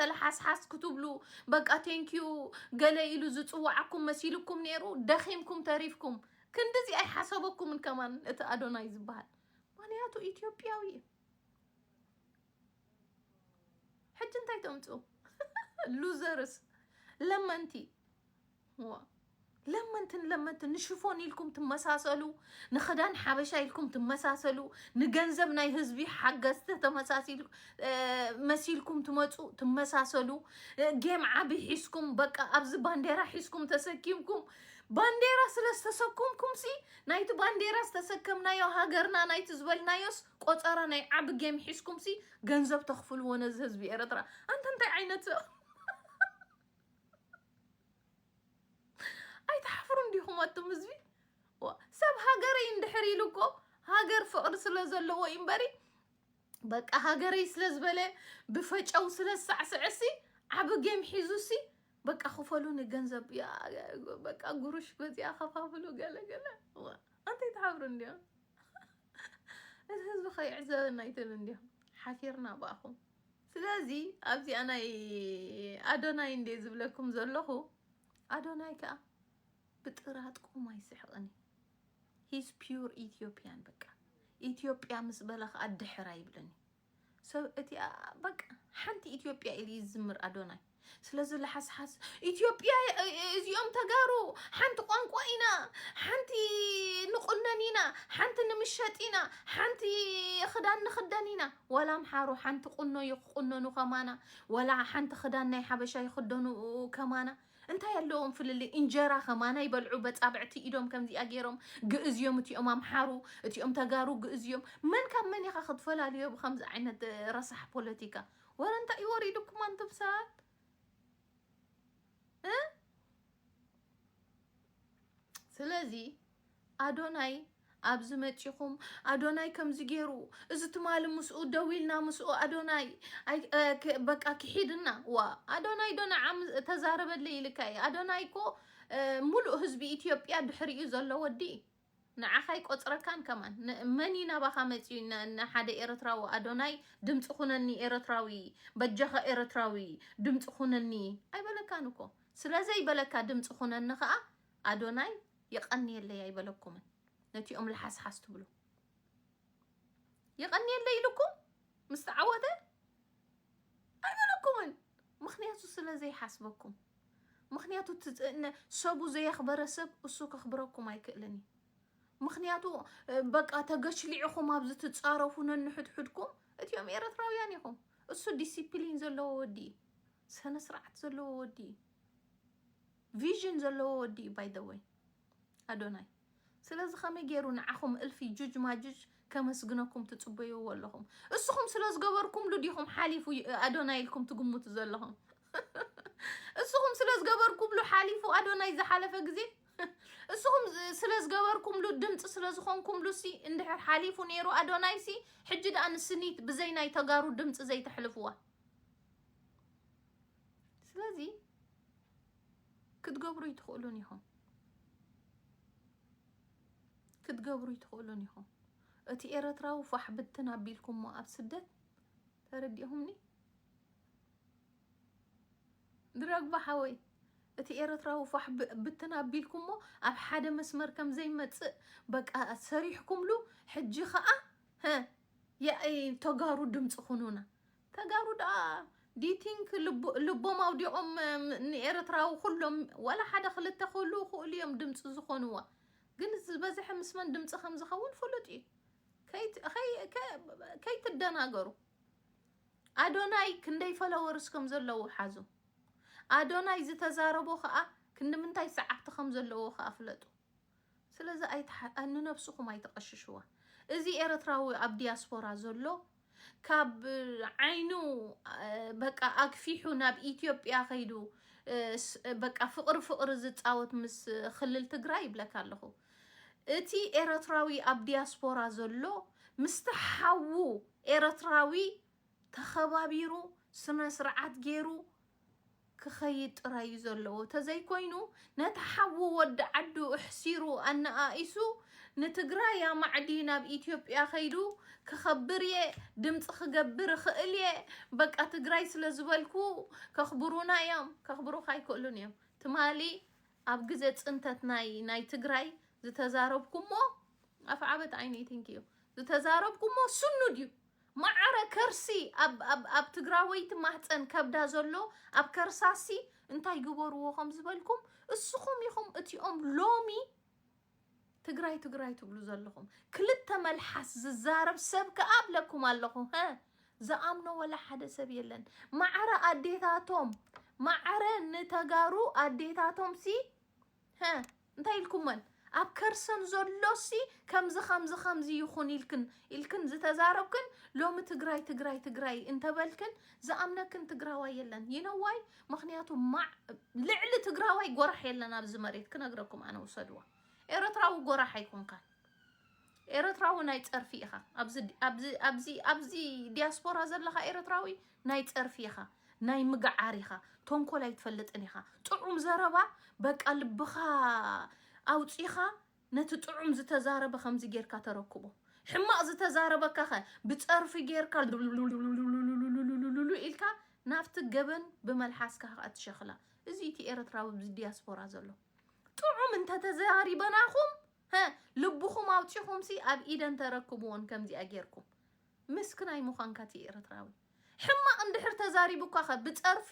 ተለሓስሓስ ክትብሉ በቃ ቴንኪዩ ገለ ኢሉ ዝፅዋዓኩም መሲልኩም ነይሩ ደኺምኩም ተሪፍኩም ክንድዚ ኣይሓሰበኩምን ከማን እቲ ኣዶናይ ዝበሃል ምክንያቱ ኢትዮጵያዊ እዩ ሕጂ እንታይ ተምፅኡ ሉዘርስ ለመንቲ ለመንትን ለመንትን ንሽፎን ኢልኩም ትመሳሰሉ ንክዳን ሓበሻ ኢልኩም ትመሳሰሉ ንገንዘብ ናይ ህዝቢ ሓገዝቲ ተመሳሲል እ፣ መሲልኩም ትመፁ ትመሳሰሉ እ፣ ጌም ዓቢ ሒዝኩም በቃ ኣብዚ ባንዴራ ሒዝኩም ተሰኪምኩም ባንዴራ ስለ ዝተሰኩምኩም ሲ ናይቲ ባንዴራ ዝተሰከምናዮ ሃገርና ናይቲ ዝበልናዮስ ቆፀራ ናይ ዓቢ ጌም ሒዝኩም ሲ ገንዘብ ተኽፍልዎ ነዚ ህዝቢ ኤርትራ ኣንተ እንታይ ዓይነት ሰብ ኣይትሓፍሩን ዲኹም ኣቱም ህዝቢ ሰብ ሃገረይ እንድሕር ኢሉ እኮ ሃገር ፍቕሪ ስለ ዘለዎ እዩ እምበሪ በቃ ሃገረይ ስለ ዝበለ ብፈጨው ስለ ዝሳዕስዐሲ ዓብ ጌም ሒዙሲ በቃ ክፈሉኒ ገንዘብ በቃ ጉሩሽ በዚኣ ከፋፍሉ ገለገለ ኣንተይ ትሓብሩ እንዲዮም እዚ ህዝቢ ከይዕዘበና ይትብል እንዲዮም ሓፊርና ብኣኹም ስለዚ ኣብዚኣ ናይ ኣዶናይ እንዴ ዝብለኩም ዘለኹ ኣዶናይ ከዓ ብጥራጥቁም ኣይስሕቕን እዩ ሂስ ፒር ኢትዮጵያን በቃ ኢትዮጵያ ምስ በለ ከዓ ድሕር ኣይብልን እዩ ሰብ እቲ በቃ ሓንቲ ኢትዮጵያ ኢሉ እዩ ዝዝምር ኣዶናይ ስለዚ ለሓስሓስ ኢትዮጵያ እዚኦም ተጋሩ ሓንቲ ቋንቋ ኢና ሓንቲ ንቁነን ኢና ሓንቲ ንምሸጥ ኢና ሓንቲ ክዳን ንክደን ኢና ዋላ ኣምሓሩ ሓንቲ ቁኖ ይቁነኑ ከማና ዋላ ሓንቲ ክዳን ናይ ሓበሻ ይክደኑ ከማና እንታይ ኣለዎም ፍልልይ እንጀራ ከማና ይበልዑ በፃብዕቲ ኢዶም ከምዚኣ ገይሮም ግእዝ እዮም እቲኦም ኣምሓሩ እቲኦም ተጋሩ ግእዝ እዮም መን ካብ መን ኢኻ ክትፈላልዮ ብከምዚ ዓይነት ረሳሕ ፖለቲካ ወረ እንታይ እዩ ወሪዱኩም ኣንቱም ሰባት እ ስለዚ ኣዶናይ ኣብዚ መጺኹም ኣዶናይ ከምዚ ገይሩ እዚ ትማሊ ምስኡ ደው ኢልና ምስኡ ኣዶናይ ኣይ- እ፣ ክ- በቃ ክሒድና ዋ ኣዶናይ ዶ ንዓም ተዛረበለይ ኢልካ እዩ ኣዶናይ እኮ እ፣ ሙሉእ ህዝቢ ኢትዮጵያ ድሕሪኡ ዘሎ ወዲ እዩ። ንዓኻ ኣይቆጽረካን ከማን ን መን እዩ ናባኻ መጽዩ ን ን ሓደ ኤረትራዊ ኣዶናይ ድምጺ ኩነኒ ኤረትራዊ በጃኻ ኤረትራዊ ድምጺ ኩነኒ ኣይበለካን እኮ ስለ ዘይበለካ ድምጺ ኩነኒ ከኣ ኣዶናይ የቀንየለይ ኣይበለኩምን ነቲኦም ለሓስሓስ ትብሉ የቀንየለይ ኢሉኩም ምስ ተዓወተ ኣይበለኩምን ምክንያቱ ስለ ዘይሓስበኩም ምክንያቱ ሰቡ ዘየክበረ ሰብ እሱ ከክብረኩም ኣይክእልን እዩ ምክንያቱ በቃ ተገሽሊዕኹም ኣብዚ ትፃረፉ ነንሕድሕድኩም እቲኦም ኤረትራውያን ኢኹም እሱ ዲሲፕሊን ዘለዎ ወዲ እዩ ስነ ስርዓት ዘለዎ ወዲ እዩ ቪዥን ዘለዎ ወዲ እዩ ባይ ዘ ወይ ኣዶናይ ስለዚ ከመይ ጌሩ ንዓኹም እልፊ ጁጅ ማጁጅ ከመስግነኩም ትጽበይዎ ኣለኹም? እስኹም ስለ ዝገበርኩምሉ ዲኹም ሓሊፉ ኣዶናይ ኢልኩም ትግምቱ ዘለኹም? እስኹም ስለ ዝገበርኩምሉ ሓሊፉ ኣዶናይ ዝሓለፈ ግዜ እስኹም ስለ ዝገበርኩምሉ ድምፂ ስለ ዝኾንኩምሉ ሲ እንድሕር ሓሊፉ ነይሩ ኣዶናይ ሲ ሕጂ ደኣ ንስኒት ብዘይ ናይ ተጋሩ ድምፂ ዘይተሕልፍዋ ስለዚ ክትገብሩ ይትኽእሉን ኢኹም ክትገብሩ ይትኽእሉን ኢኹም እቲ ኤረትራዊ ፋሕ ብትን ኣቢልኩሞ ኣብ ስደት ተረዲኹምኒ ድረግባ ሓወይ እቲ ኤረትራዊ ፋሕ ብትን ኣቢልኩሞ ኣብ ሓደ መስመር ከም ዘይመጽእ በቃ ሰሪሕኩምሉ ሕጂ ኸኣ ተጋሩ ድምፂ ኩኑና ተጋሩ ደኣ ዲዩ ቲንክ ልቦም ኣውዲቆም ንኤረትራዊ ኩሎም ዋላ ሓደ ክልተ ክህልዉ ይክእሉ ኢዮም ድምጺ ዝኮንዋ ግን ዝበዝሐ ምስ መን ድምጺ ከም ዝከውን ፍሉጥ ኢዩ ከይትደናገሩ ኣዶናይ ክንደይ ፈለወርስ ከም ዘለዎ ሓዙ ኣዶናይ ዝተዛረቦ ከኣ ክንዲ ምንታይ ሰዓብቲ ከም ዘለዎ ከኣ ፍለጡ ስለዚ ኣይትሓ ንነብስኹም ኣይተቐሽሽዋ። እዚ ኤርትራዊ ኣብ ዲያስፖራ ዘሎ ካብ ዓይኑ በቃ ኣግፊሑ ናብ ኢትዮጵያ ከይዱ በቃ ፍቕሪ ፍቕሪ ዝጻወት ምስ ክልል ትግራይ ይብለካ ኣለኹ። እቲ ኤርትራዊ ኣብ ዲያስፖራ ዘሎ ምስቲ ሓዉ ኤርትራዊ ተኸባቢሩ ስነ ስርዓት ገይሩ ክኸይድ ጥራይ እዩ ዘለዎ ተዘይኮይኑ ነቲ ሓዉ ወዲ ዓዱ እሕሲሩ ኣነኣኢሱ ንትግራይ ኣማዕዲ ናብ ኢትዮጵያ ከይዱ ክኸብር እየ ድምፂ ክገብር እኽእል እየ በቃ ትግራይ ስለ ዝበልኩ ከኽብሩና እዮም ከኽብሩካ ኣይክእሉን እዮም ትማሊ ኣብ ግዜ ፅንተት ናይ ናይ ትግራይ ዝተዛረብኩሞ ኣፍዓበት ዓይነይ ትንኪ እዩ ዝተዛረብኩሞ ስኑድ እዩ ማዓረ ከርሲ ኣብ ኣብ ኣብ ትግራወይቲ ማህጸን ከብዳ ዘሎ ኣብ ከርሳሲ እንታይ ግበርዎ ከም ዝበልኩም እስኹም ኢኹም እቲኦም ሎሚ ትግራይ ትግራይ ትብሉ ዘለኹም ክልተ መልሓስ ዝዛረብ ሰብ ከኣ ኣብለኩም ኣለኹ ሀ ዝኣምኖ ወላ ሓደ ሰብ የለን ማዕረ ኣዴታቶም ማዕረ ንተጋሩ ኣዴታቶም ሲ ሀ እንታይ ኢልኩመን ኣብ ከርሰን ዘሎሲ ከምዚ ከምዚ ከምዚ ይኹን ኢልክን ኢልክን ዝተዛረብክን ሎሚ ትግራይ ትግራይ ትግራይ እንተበልክን ዝኣምነክን ትግራዋይ የለን ይነዋይ ምክንያቱ ማዕ ልዕሊ ትግራዋይ ጎራሕ የለን ኣብዚ መሬት ክነግረኩም ኣነ ውሰድዋ ኤረትራዊ ጎራሕ ኣይኮንካን ኤረትራዊ ናይ ጸርፊ ኢኻ ኣብዚ ኣብዚ ኣብዚ ኣብዚ ዲያስፖራ ዘለኻ ኤረትራዊ ናይ ጸርፊ ኢኻ ናይ ምግዓር ኢኻ ተንኮል ኣይትፈልጥን ኢኻ ጥዑም ዘረባ በቃ ልብኻ ኣውጺኻ ነቲ ጥዑም ዝተዛረበ ከምዚ ጌርካ ተረክቦ ሕማቕ ዝተዛረበካ ኸ ብጸርፊ ጌርካ ሉሉሉሉሉሉሉሉሉሉሉ ኢልካ ናብቲ ገበን ብመልሓስካ ከዓ ትሸኽላ እዚ እቲ ኤርትራዊ ብዲያስፖራ ዘሎ ጥዑም እንተተዛሪበናኹም ሀ ልብኹም ኣውጺኹምሲ ኣብ ኢደን ተረክብወን ከምዚኣ ጌርኩም ምስክናይ ምዃንካ እቲ ኤርትራዊ ሕማቕ እንድሕር ተዛሪቡካኸ ብጸርፊ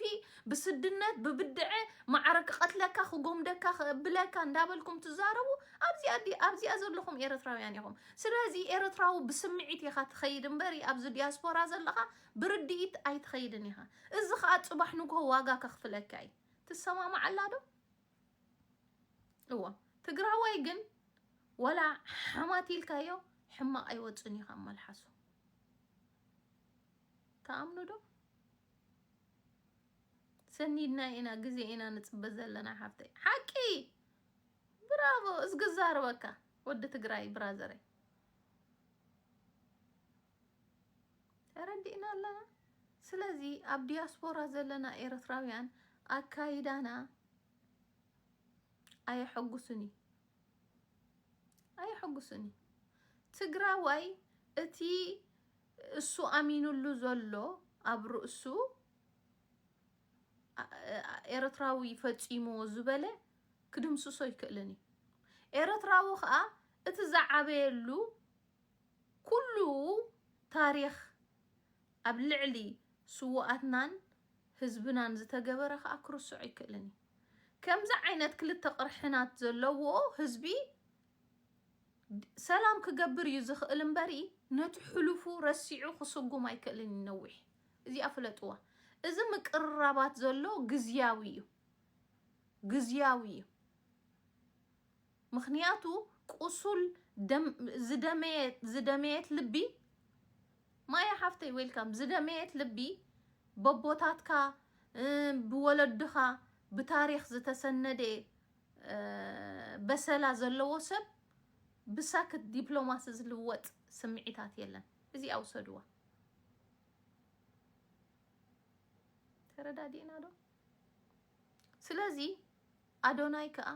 ብስድነት ብብድዐ ማዕረ ክቐትለካ ክጎምደካ ክብለካ እንዳበልኩም ትዛረቡ ኣብዚኣ ዲ ኣብዚኣ ዘለኹም ኤርትራውያን ኢኹም ስለዚ ኤርትራዊ ብስምዒት ኢኻ ትኸይድ እምበር ኣብዚ ዲያስፖራ ዘለኻ ብርድኢት ኣይትኸይድን ኢኻ እዚ ኸኣ ጽባሕ ንግሆ ዋጋ ከኽፍለካ እዩ ትሰማማዓላ ዶ እዎ ትግራዋይ ግን ወላ ሓማት ኢልካዮ ሕማቕ ኣይወፅን እዩ ካብ መልሓሱ ተኣምኑ ዶ ሰኒድና ኢና ግዜ ኢና ንፅበ ዘለና ሓፍተይ ሓቂ ብራቮ እዝግዛርበካ ወዲ ትግራይ ብራዘረይ ተረዲእና ኣለና። ስለዚ ኣብ ዲያስፖራ ዘለና ኤርትራውያን ኣካይዳና ኣየሐጉስን እዩ ኣየሐጉስን እዩ። ትግራዋይ እቲ እሱ ኣሚኑሉ ዘሎ ኣብ ርእሱ ኤርትራዊ ፈፂምዎ ዝበለ ክድምስሶ ኣይክእልን እዩ። ኤርትራዊ ከዓ እቲ ዝዓበየሉ ኩሉ ታሪኽ ኣብ ልዕሊ ስውኣትናን ህዝብናን ዝተገበረ ከኣ ክርስዕ ኣይክእልን እዩ። ከምዚ ዓይነት ክልተ ቅርሕናት ዘለዎ ህዝቢ ሰላም ክገብር እዩ ዝኽእል እምበሪ ነቲ ሕሉፉ ረሲዑ ክስጉም ኣይክእልን እዩ ነዊሕ እዚኣ ፍለጥዋ። እዚ ምቅርራባት ዘሎ ግዝያዊ እዩ ግዝያዊ እዩ። ምኽንያቱ ቁሱል ደም ዝደመየት ዝደመየት ልቢ ማያ ሓፍተይ ዌልካም ዝደመየት ልቢ በቦታትካ ብወለድኻ ብታሪኽ ዝተሰነደ በሰላ ዘለዎ ሰብ ብሳክት ዲፕሎማሲ ዝልወጥ ስምዒታት የለን። እዚኣ ውሰድዋ። ተረዳዲእና ዶ? ስለዚ ኣዶናይ ከኣ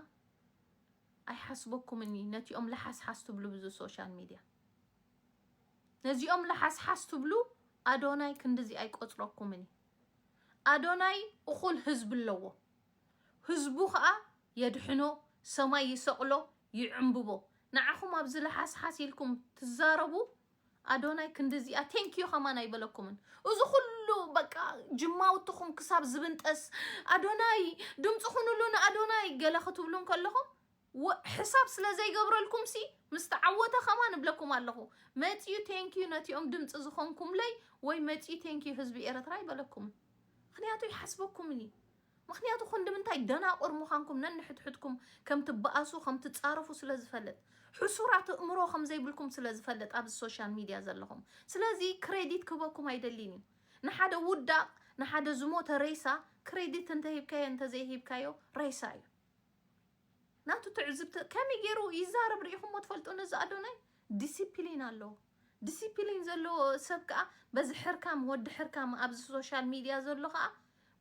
ኣይሓስበኩምን እዩ ነቲኦም ለሓስሓስ ትብሉ ብዙ ሶሻል ሚድያ ነዚኦም ለሓስሓስ ትብሉ ኣዶናይ ክንድዚ ኣይቆፅረኩምን እዩ ኣዶናይ እኹል ህዝቢ ኣለዎ ህዝቡ ከዓ የድሕኖ ሰማይ ይሰቕሎ ይዕምብቦ ንዓኹም ኣብዚ ለሓስሓስ ኢልኩም ትዛረቡ ኣዶናይ ክንድዚኣ ቴንኪዩ ከማን ኣይበለኩምን እዚ ኩሉ በቃ ጅማውትኹም ክሳብ ዝብንጠስ ኣዶናይ ድምፂ ኩኑሉ ንኣዶናይ ገለ ክትብሉ እንከለኹም ወ- ሕሳብ ስለ ዘይገብረልኩም ሲ ምስ ተዓወተ ከማን እብለኩም ኣለኹ መፂኡ ቴንኪዩ ነቲኦም ድምፂ ዝኾንኩምለይ ወይ መፂኡ ቴንኪዩ ህዝቢ ኤረትራ ኣይበለኩምን ምክንያቱ ይሓስበኩምን እዩ ምኽንያቱ ክንድምንታይ ደናቑር ምዃንኩም ነንሕድሕድኩም ከም ትበኣሱ ከም ትጻረፉ ስለ ዝፈልጥ ሕሱራት እእምሮ ከም ዘይብልኩም ስለ ዝፈልጥ ኣብዚ ሶሻል ሚድያ ዘለኹም ስለዚ ክሬዲት ክህበኩም ኣይደሊን እዩ ንሓደ ውዳቕ ንሓደ ዝሞተ ሬሳ ክሬዲት እንተ ሂብካዮ እንተ ዘይሂብካዮ ሬሳ እዩ ናቱ ትዕዝብቲ ከመይ ገይሩ ይዛረብ ርኢኹሞ ትፈልጡ ነዚ ኣዶናይ ዲሲፕሊን ኣለዎ ዲሲፕሊን ዘለዎ ሰብ ከኣ በዚ ሕርካም ወዲ ሕርካም ኣብዚ ሶሻል ሚድያ ዘሎ ከኣ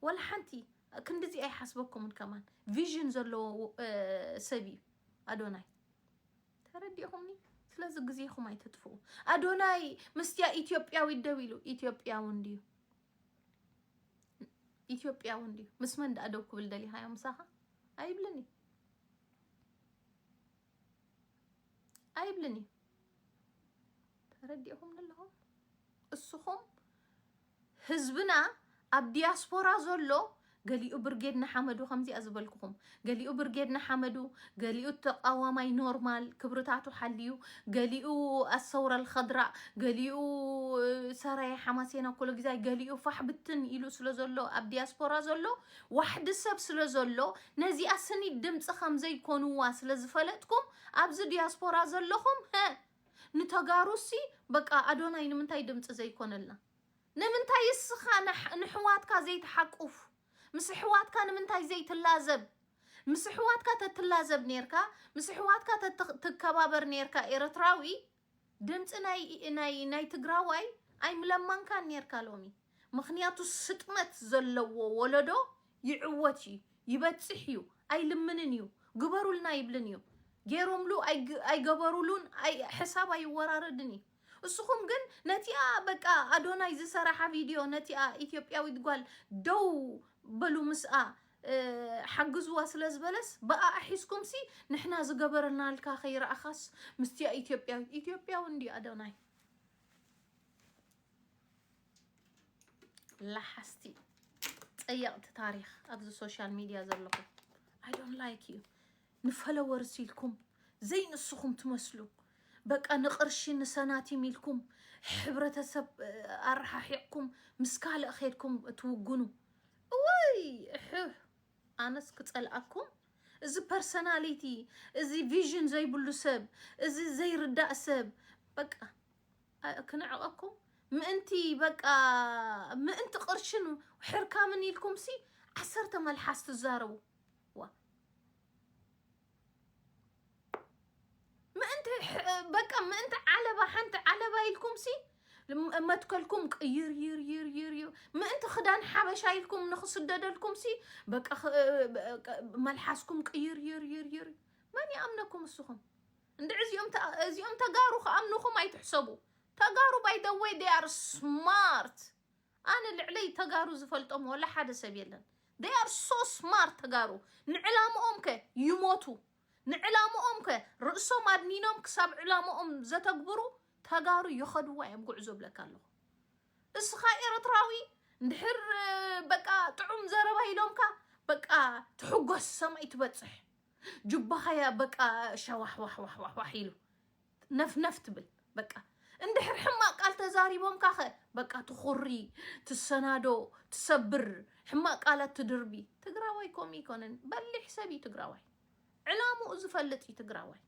ወላ ሓንቲ ክንድዚ ኣይሓስበኩምን ከማን ቪዥን ዘለዎ ሰብ እዩ ኣዶናይ ተረዲኹምኒ ስለዚ ግዜኹም ኣይተጥፍኡ ኣዶናይ ምስትያ ኢትዮጵያዊት ደው ኢሉ ኢትዮጵያዊ እንድዩ ኢትዮጵያዊ እንድዩ ምስ መን ደኣ ደው ክብል ደሊኻዮ ምሳኻ ኣይብልን እዩ ኣይብልን እዩ ተረዲእኹም ኣለኹም እስኹም ህዝብና ኣብ ዲያስፖራ ዘሎ ገሊኡ ብርጌድ ንሓመዱ ከምዚኣ ዝበልኩኹም ገሊኡ ብርጌድ ንሓመዱ ገሊኡ ተቃዋማይ ኖርማል ክብርታቱ ሓልዩ ገሊኡ ኣሰውረ ልኸድራ ገሊኡ ሰራየ ሓማሴና ኮሎ ግዛይ ገሊኡ ፋሕ ብትን ኢሉ ስለ ዘሎ ኣብ ዲያስፖራ ዘሎ ዋሕዲ ሰብ ስለ ዘሎ ነዚኣ ስኒት ድምጺ ከም ዘይኮንዋ ስለ ዝፈለጥኩም ኣብዚ ዲያስፖራ ዘለኹም ሀ ንተጋሩሲ በቃ ኣዶናይ ንምንታይ ድምጺ ዘይኮነልና ንምንታይ እስኻ ንሕ- ንሕዋትካ ዘይትሓቁፍ ምስ ኣሕዋትካ ንምንታይ ዘይትላዘብ ምስ ኣሕዋትካ ተትላዘብ ኔርካ ምስ ኣሕዋትካ ተትኽ- ትከባበር ኔርካ ኤረትራዊ ድምፂ ናይ ናይ ትግራዋይ ኣይምለማንካን ኔርካ ሎሚ ምክንያቱ ስጥመት ዘለዎ ወለዶ ይዕወት እዩ ይበፅሕ እዩ ኣይልምንን እዩ ግበሩልና ይብልን እዩ ገይሮምሉ ኣይግ- ኣይገበሩሉን ኣይ- ሕሳብ ኣይወራረድን እዩ እስኹም ግን ነቲኣ በቃ ኣዶናይ ዝሰራሓ ቪድዮ ነቲኣ ኢትዮጵያዊት ጓል ደው በሉ ምስኣ ሓግዝዋ ስለ ዝበለስ ብኣኣ ሒዝኩምሲ ንሕና ዝገበርናልካ ከይረኣኻስ ምስቲኣ ኢትዮጵያዊት ኢትዮጵያዊ እንዲ ኣዶናይ ላሓስቲ ፀየቕቲ ታሪክ ኣብዚ ሶሻል ሚድያ ዘለኹም ኣይ ዶንት ላይክ ዩ ንፈለወርስ ኢልኩም ዘይንስኹም ትመስሉ በቃ ንቕርሺ ንሰናቲም ኢልኩም ሕብረተሰብ ኣረሓሒቕኩም ምስ ካልእ ኼድኩም ትውግኑ እዋይ እሕሕ ኣነስ ክጸልኣኩም እዚ ፐርሰናሊቲ እዚ ቪዥን ዘይብሉ ሰብ እዚ ዘይርዳእ ሰብ በቃ ክንዕቐኩም ምእንቲ በቃ ምእንቲ ቅርሽን ሕርካምን ኢልኩምሲ ዓሰርተ መልሓስ ትዛረቡ ምእንቲ በቃ ምእንቲ ዓለባ ሓንቲ ዓለባ ኢልኩም ሲ መትከልኩም ቅይርይርይርይር ምእንቲ ክዳን ሓበሻ ኢልኩም ንክስደደልኩም ሲ በቃ መልሓስኩም ቅይርይርይርይር መን ይኣምነኩም እስኹም እንድዕ እዚኦም እዚኦም ተጋሩ ክኣምንኹም ኣይትሕሰቡ ተጋሩ ባይ ደ ወይ ዴይ ኣር ስማርት ኣነ ልዕለይ ተጋሩ ዝፈልጦም ዋላ ሓደ ሰብ የለን they are so smart ተጋሩ ንዕላምኦም ከ ይሞቱ ንዕላምኦም ከ ርእሶም ኣድኒኖም ክሳብ ዕላምኦም ዘተግብሩ ተጋሩ ይኸድዋ እዮም ጉዕዞ ብለካ ኣለኹ እስኻ ኤርትራዊ እንድሕር እ፣ በቃ ጥዑም ዘረባ ኢሎምካ በቃ ትሕጎስ ሰማይ ትበጽሕ ጅባኻያ በቃ ሸዋሕዋሕዋሕዋሕ ኢሉ ነፍነፍ ትብል በቃ እንድሕር ሕማቅ ቃል ተዛሪቦምካ ከ በቃ ትኹሪ ትሰናዶ ትሰብር ሕማቅ ቃላት ትድርቢ ትግራዋይ ከምኡ ይኮነን በሊሕ ሰብ እዩ ትግራዋይ ዕላምኡ ዝፈልጥ እዩ ትግራዋይ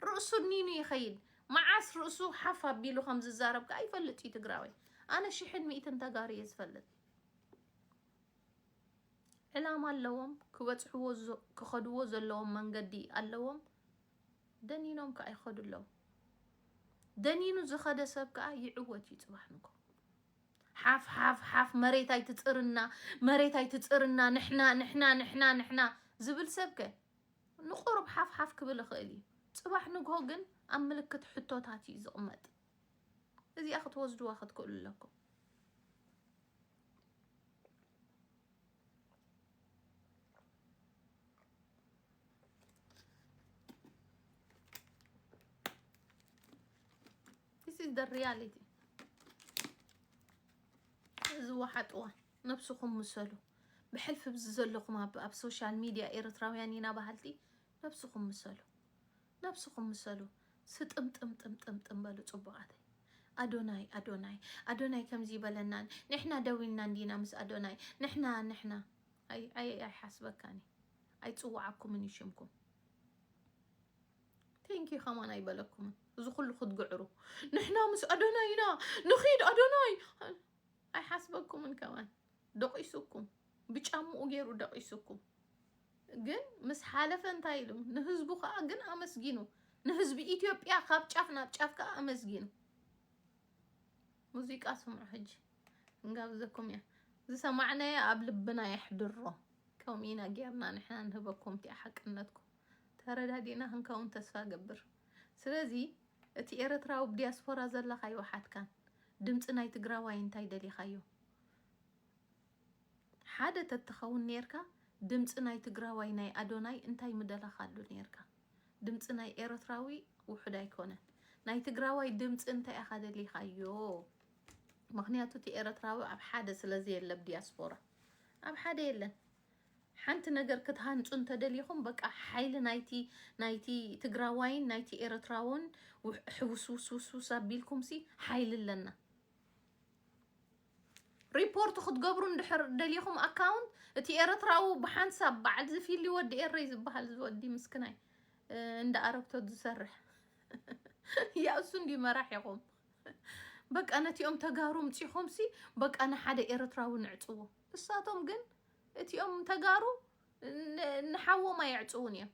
ርእሱ ኒኑ ይኸይድ መዓስ ርእሱ ሓፍ ኣቢሉ ከም ዝዛረብ ከዓ ይፈልጥ እዩ ትግራዋይ ኣነ ሽሕን ሚእትን ተጋሩ እየ ዝፈልጥ ዕላማ ኣለዎም ክበፅሕዎ ክኸድዎ ዘለዎም መንገዲ ኣለዎም ደኒኖም ከኣ ይኸዱ ኣለዉ። ደኒኑ ዝኸደ ሰብ ከኣ ይዕወት እዩ ጽባሕ ንግሆ። ሓፍ ሓፍ ሓፍ መሬት ኣይትጽርና መሬት ኣይትጽርና ንሕና ንሕና ንሕና ንሕና ዝብል ሰብ ከ ንቁሩብ ሓፍ ሓፍ ክብል ይኽእል እዩ። ጽባሕ ንግሆ ግን ኣብ ምልክት ሕቶታት እዩ ዝቕመጥ። እዚኣ ክትወስድዋ ክትክእሉ ኣለኩም። This is the reality. ዝወሓጥዋ ነብስኹም ምሰሉ ብሕልፊ ብዚ ዘለኹም ኣብ ሶሻል ሚድያ ኤርትራውያን ኢና በሃልቲ ነብስኹም ምሰሉ ነብስኹም ምሰሉ ስጥምጥምጥምጥምጥም በሉ ጽቡቃተይ። ኣዶናይ ኣዶናይ ኣዶናይ ከምዚ ይበለናን ንሕና ደው ኢልና እንዲና ምስ ኣዶናይ ንሕና ንሕና ኣይ ኣይ ኣይሓስበካን እዩ ኣይጽውዓኩምን እዩ ሽምኩም ቴንኪ ከማን ኣይበለኩምን እዚ ኩሉ ክትግዕሩ ንሕና ምስ ኣዶናይ ኢና ንኺድ ኣዶናይ ኣይሓስበኩምን ከማን ደቂሱኩም ብጫምኡ ገይሩ ደቂሱኩም ግን ምስ ሓለፈ እንታይ ኢሉ ንህዝቡ ከዓ ግን ኣመስጊኑ ንህዝቢ ኢትዮጵያ ካብ ጫፍ ናብ ጫፍ ከዓ ኣመስጊኑ ሙዚቃ ስምዑ ሕጂ እንጋብዘኩም እያ ዝሰማዕናዮ ኣብ ልብና የሕድሮ ከምኡ ኢና ጌርና ንሕና ንህበኩም እቲኣ ሓቅነትኩም ተረዳዲእና ክንከውን ተስፋ ገብር ስለዚ እቲ ኤረትራዊ ብዲያስፖራ ዘለኻዮ ሓትካን ድምፂ ናይ ትግራዋይ እንታይ ደሊኻዮ ሓደ ተትኸውን ኔርካ ድምጺ ናይ ትግራዋይ ናይ ኣዶናይ እንታይ ምደለኻሉ ኔርካ ድምጺ ናይ ኤረትራዊ ውሑድ ኣይኮነን ናይ ትግራዋይ ድምጺ እንታይ ኢኻ ደሊኻዮ ምኽንያቱ እቲ ኤረትራዊ ኣብ ሓደ ስለ ዘየለ ኣብ ዲያስፖራ ኣብ ሓደ የለን ሓንቲ ነገር ክትሃንጹ እንተደሊኹም በቃ ሓይሊ ናይቲ ናይቲ ትግራዋይን ናይቲ ኤረትራውን ሕውስውስውስውስ ኣቢልኩምሲ ሓይሊ ኣለና ሪፖርት ክትገብሩ እንድሕር ደሊኹም ኣካውንት እቲ ኤረትራዊ ብሓንሳብ በዓል ዝፊሊ ወዲ ኤረይ ዝበሃል ዝወዲ ምስክናይ እንዳ ኣረግቶት ዝሰርሕ ያእሱ እንዲ መራሒኹም በቃ ነቲኦም ተጋሩ ምፂኹምሲ በቃ ንሓደ ኤረትራዊ ንዕፅዎ እሳቶም ግን እቲኦም ተጋሩ ንሓዎም ኣየዕፅውን እዮም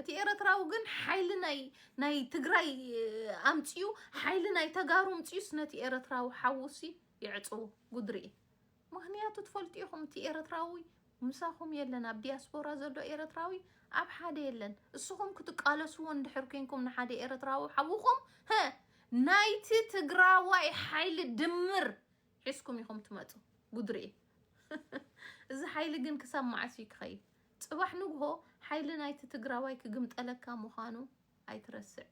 እቲ ኤረትራዊ ግን ሓይሊ ናይ ናይ ትግራይ ኣምጺኡ ሓይሊ ናይ ተጋሩ ኣምጺኡስ ነቲ ኤረትራዊ ሓዉሲ ይዕጽዎ ጉድ ርኢ ምክንያቱ ትፈልጡ ኢኹም እቲ ኤረትራዊ ምሳኹም የለን ኣብ ዲያስፖራ ዘሎ ኤረትራዊ ኣብ ሓደ የለን እስኹም ክትቃለስዎ እንድሕር ኮንኩም ንሓደ ኤረትራዊ ሓውኹም ሀ ናይቲ ትግራዋይ ሓይሊ ድምር ሒዝኩም ኢኹም ትመጹ ጉድ ሪኤ እዚ ሓይሊ ግን ክሳብ መዓስ እዩ ክኸይድ ጽባሕ ንግሆ ሓይሊ ናይቲ ትግራዋይ ክግምጠለካ ምዃኑ ኣይትረስዕ።